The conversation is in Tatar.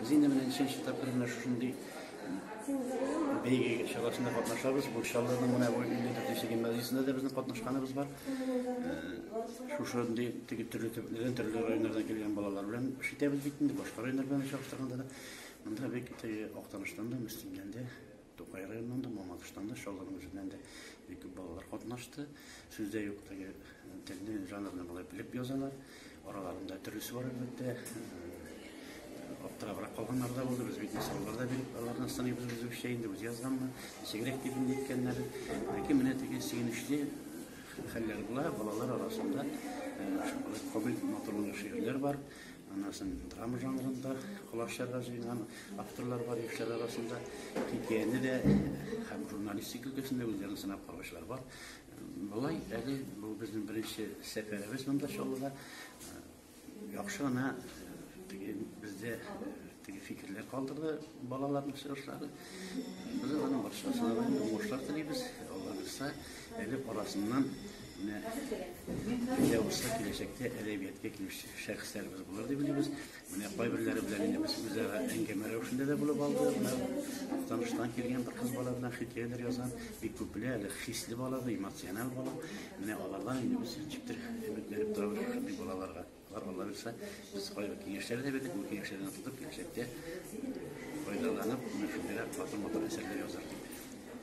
Без инде менә ничәнче тапкыр менә шушындый бәйге чарасында катнашабыз. Бу Чаллының менә бу 54 гимназиясендә дә безнең катнашканыбыз бар. Шушындый теге төрле төбәкләрдән, төрле районнардан килгән балалар белән эш итәбез бит инде. Башка районнар белән чагыштырганда да монда бик актаныштан да, Мөслимдән дә Тукай районыннан да, Мамадыштан да, Чаллының үзеннән дә бик күп балалар катнашты. Сүз дә юк, теге телне, жанрны болай белеп язалар. Араларында төрлесе бар, әлбәттә. Аптырабрак калганнар да булды. Без бит мисаллар да биреп, алардан сыныйбыз үзебезчә инде, үзе язганмы, ничегрәк дип инде әйткәннәре. Ләкин менә теге сөенечле хәлләр була, балалар арасында кабил матурлы шигырьләр бар. Аннан соң драма жанрында колак чарга җыенган авторлар бар яшьләр арасында. Хикәяне дә һәм журналистик өлкәсендә үзләрен сынап караучылар бар. Болай әле бу безнең беренче сәфәребез монда Чаллыда. Яхшы гына бездә Теге фикерләр калдырды балаларның чыгышлары. Без аның баршасына да уңышлар телибез. Алла бирса, әле арасыннан менә килә булса киләчәктә әдәбиятка килүче шәхесләребез булыр дип уйлыйбыз. Менә кайберләре белән инде без үзара әңгәмә рәвешендә дә булып алды. Менә таныштан килгән бер кыз бала белән хикәяләр язган. Бик күп белә, әле хисле бала, эмоциональ бала. Менә алардан инде без җиптер өметләнеп торабыз шундый балаларга. Бар Алла бирсә, без кайбер киңәшләр дә бирдек, бу киңәшләрдән тотып киләчәктә файдаланып, менә шундыйрак матур-матур әсәрләр язарга.